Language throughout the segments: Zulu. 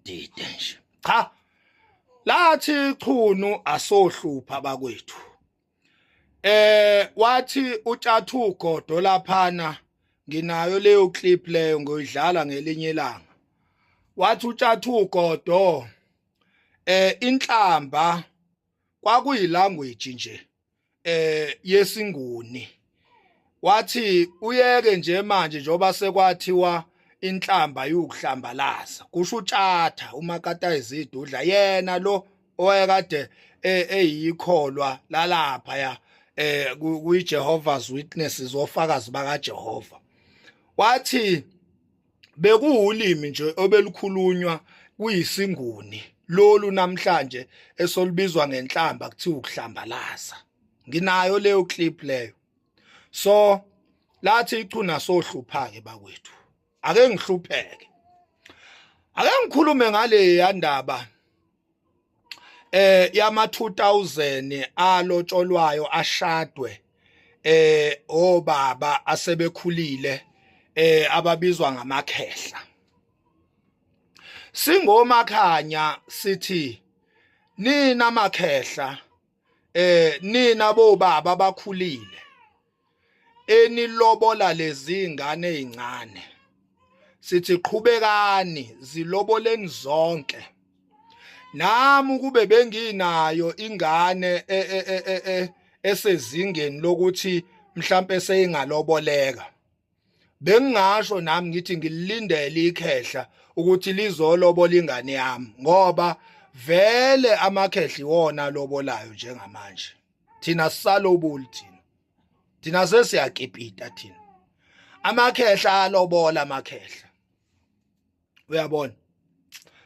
dide nje cha lathi chunu asohlupha bakwethu eh wathi utshathu godo laphana nginayo leyo clip leyo ngoyidlala ngelinye ilanga wathi utshathu godo eh inhlamba kwakuyilanguage nje eh yesinguni wathi uyeke nje manje njoba sekwathiwa inhlamba yukuhlambalaza kusho utshatha umakata izidudla yena lo owayekade e, eyikholwa lalapha ya eh kuyiJehovah's Witnesses ofakazi bakaJehova wathi bekuwulimi nje obelukhulunywa kuyisinguni lolu namhlanje esolubizwa ngenhlamba kuthiwa ukuhlambalaza nginayo leyo clip leyo so lathi ichuna sohluphake bakwethu ake ngihlupheke ake ngikhulume ngale yandaba eh yama 2000 alotsholwayo ashadwe eh obaba asebekhulile eh ababizwa ngamakhehla singomakhanya sithi nina makhehla eh nina bo baba bakhulile enilobola lezi ngane ezincane sithi qhubekani ziloboleni zonke nami ukube benginayo ingane e, e, e, esezingeni lokuthi mhlambe seyingaloboleka bengingasho nami ngithi ngilindele ikhehla ukuthi lizolobola ingane yami ngoba vele amakhehla iwona alobolayo njengamanje thina sisalobuli thina thina sesiyakipita thina amakhehla alobola amakhehla uyabona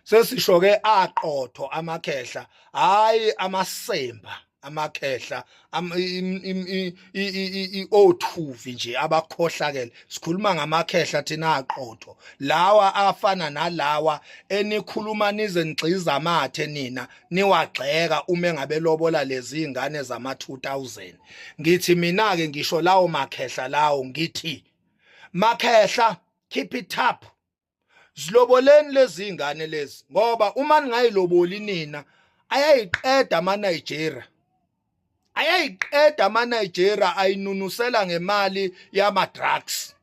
sesisho ke aqotho amakhehla hayi amasemba amakhehla othuvi nje abakhohlakele sikhuluma ngamakhehla thina aqotho lawa afana nalawa enikhuluma nize ngigxiza amathe nina niwagxeka uma engabe lobola lezi ingane zama 2000 ngithi mina ke ngisho lawo makhehla lawo ngithi makhehla keep it up ziloboleni lezi zingane lezi ngoba uma ningayiloboli nina ayayiqeda ama Nigeria ayayiqeda ama Nigeria ayinunusela ngemali yama drugs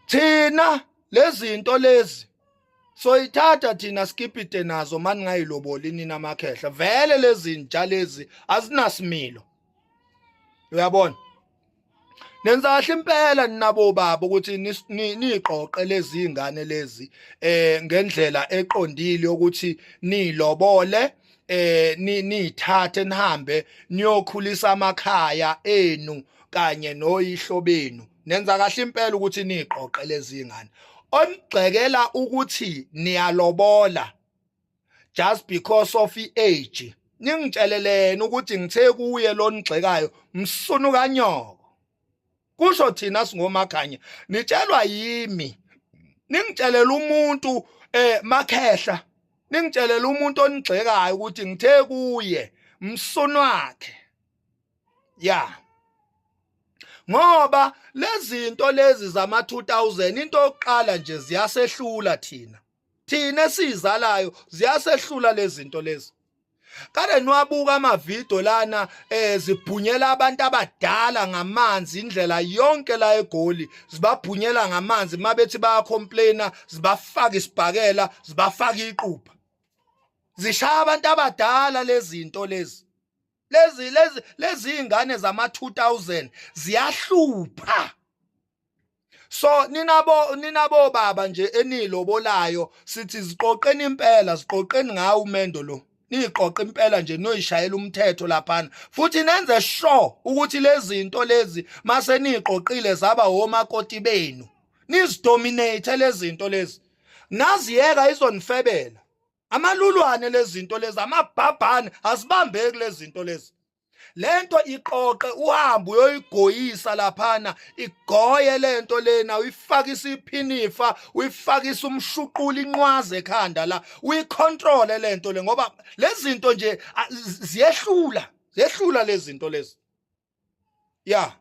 thina lezinto lezi soyithatha thina skipite nazo mani ngayiloboli nina amakhehla vele lezi nja lezi azinasimilo uyabona nenza kahle impela ninabo baba ukuthi niqoqe lezi ingane lezi eh ngendlela eqondile ukuthi nilobole eh nithathe nihambe niyokhulisa amakhaya enu kanye noyihlo benu nenza kahle impela ukuthi niqoqe lezi ingane onigxekela ukuthi niyalobola just because of i-age ningitsheleleni ukuthi ngithe kuye lonigxekayo msunu kanyoko kusho thina singomakhanya nitshelwa yimi ningitshelela umuntu eh makhehla ningitshelela umuntu onigxekayo ukuthi ngithe kuye msunu wakhe ya ngoba lezinto lezi zama 2000 into yokuqala nje ziyasehlula thina thina esizalayo ziyasehlula lezinto lezi kade niwabuka amavidiyo lana eh zibhunyela abantu abadala ngamanzi indlela yonke la egoli zibabhunyela ngamanzi mabethi bayacomplaina zibafaka isibhakela zibafaka iqupha zishaya abantu abadala lezinto lezi lezi lezi lezi ingane zama 2000 ziyahlupha so ninabo ninabo baba nje enilobolayo sithi ziqoqeni impela ziqoqeni ngawo umendo lo niqoqe impela nje noyishayela umthetho laphana futhi nenze sure ukuthi lezinto lezi mase niqoqile zaba homakoti benu nizidominate lezinto lezi naziyeka izonifebela amalulwane lezinto lezi amabhabhane asibambeki lezinto lezi lento iqoqe uhambe uyoyigoyisa laphana igoye lento lena uyifake isiphinifa uyifake isumshuqula inqwaze ekhanda la uyicontrol lento le ngoba lezinto nje ziyehlula zehlula lezinto lezi ya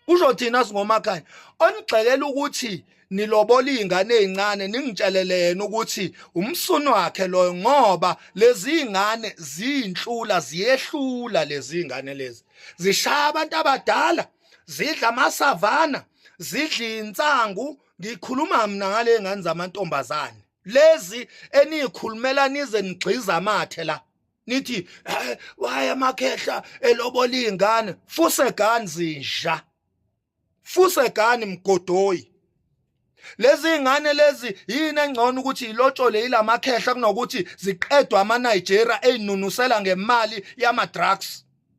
kusho thina singomakhaya onigxekela ukuthi nilobola izingane ezincane ningitshelele yena ukuthi umsunu wakhe loyo ngoba lezi ngane zinhlula ziyehlula lezi ngane lezi zishaya abantu abadala zidla amasavana zidla insangu ngikhuluma mina ngale ngane zamantombazane lezi eniyikhulumela nize nigxiza amathe la nithi eh, why amakhehla elobola izingane fuse gani zinja fuse gani mgodoyi lezi ingane lezi yini engcono ukuthi ilotshole ilamakhehla kunokuthi ziqedwe ama Nigeria einunusela ngemali yama drugs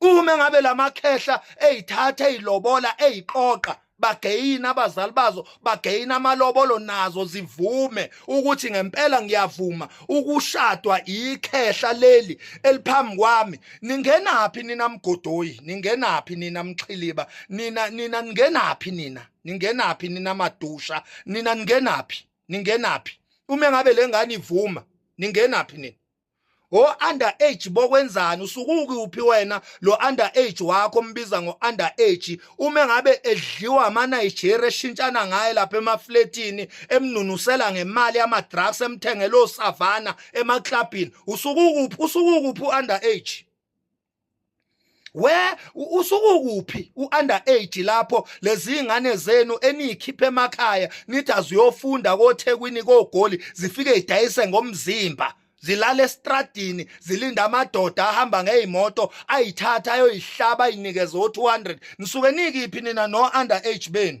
uma ngabe lamakhehla ezithatha ezilobola eziqoqa bageyina abazali bazo bageyina amalobolo nazo zivume ukuthi ngempela ngiyavuma ukushadwa ikhehla leli eliphambi kwami ningenaphi nina mgodoyi ningenaphi nina mxhiliba nina nina ningenaphi nina ningenaphi nina madusha nina ningenaphi ningenaphi uma ngabe lengane ivuma ningenaphi nina o under age bokwenzani usukuki uphi wena lo under age wakho mbiza ngo under age uma ngabe edliwa ama Nigeria eshintshana ngaye lapha emafletini emnunusela ngemali ama drugs emthengelo savana ema clubini usukuki uphi usukuki uphi under age we usukukuphi uunder age lapho lezi ingane zenu eniyikhiphe emakhaya nithi aziyofunda kothekwini kogoli zifike idayise ngomzimba zilala estradini zilinda amadoda ahamba ngeyimoto ayithatha ayoyihlaba inikeze o200 nisuke nikiphi nina no under age benu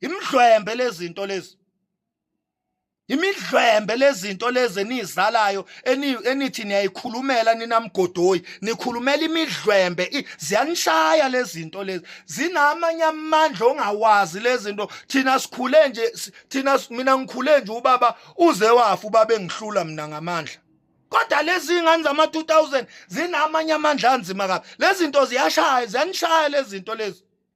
imidlwembe lezinto lezi imidlwembe lezinto lezi enizalayo enithi niyayikhulumela ninamgodoyi nikhulumela imidlwembe ziyanishaya lezinto lezi zinamanye amandla ongawazi lezinto thina sikhule nje thina mina ngikhule nje ubaba uze wafa ubaba engihlula mina ngamandla kodwa lezi ngane zama 2000 zinamanye amandla anzima kabi lezinto ziyashaya ziyanishaya lezinto lezi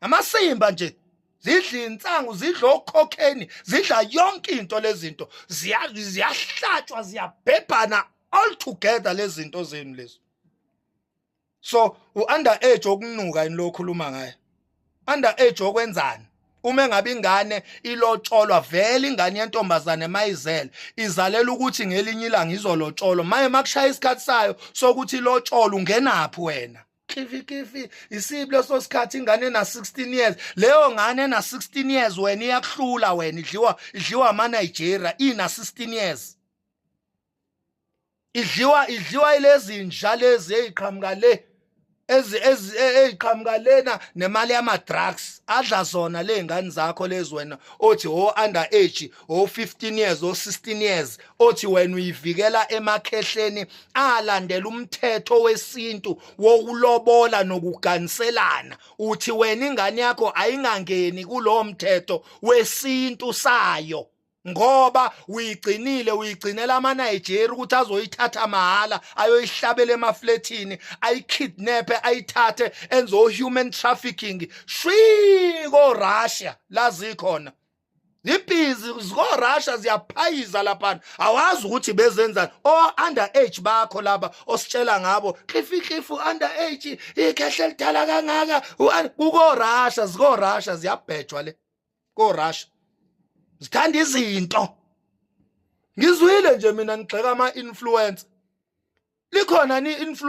amasimba nje zidla insangu zidla okhokheni zidla yonke into lezinto ziyahlatshwa ziyabhebhana all together lezinto zenu lezo so uunder age okunuka yini lokhuluma ngaye under age okwenzani uma engabe ingane ilotsholwa vele ingane yentombazane mayizele izalela ukuthi ngelinye ilanga izolotsholwa maye makushaya isikhathi sayo sokuthi ilotsholwa ungenaphi wena khifikhifi isibi leso sikhathi ingane ena 16 years leyo ngane ena 16 years wena iyakuhlula wena idliwa idliwa ama Nigeria ina 16 years idliwa idliwa ilezi nja lezi eziqhamuka le ezi eziqhamuka lena nemali yama drugs adla zona lezingane zakho lezi wena othi ho oh, under age o-15 years o-16 years othi wena uyivikela emakhehleni alandela umthetho wesintu wokulobola nokuganiselana uthi wena ingane yakho ayingangeni kulowo mthetho wesintu sayo ngoba uyigcinile uyigcinela amaNigeria ukuthi azoyithatha mahhala ayoyihlabela emaflethini ayikidnape ayithathe enzo human trafficking shwi ko Russia lazi khona zibhizi zikorasha ziyaphayiza laphana awazi ukuthi bezenzani o-under age bakho laba ositshela ngabo klifihlifu under age ikhehle lidala kangaka kukorasha zikorasha ziyabhejwa le korasha zithanda izinto ngizwile nje mina ngigxeka ama-influencer likhona ni influ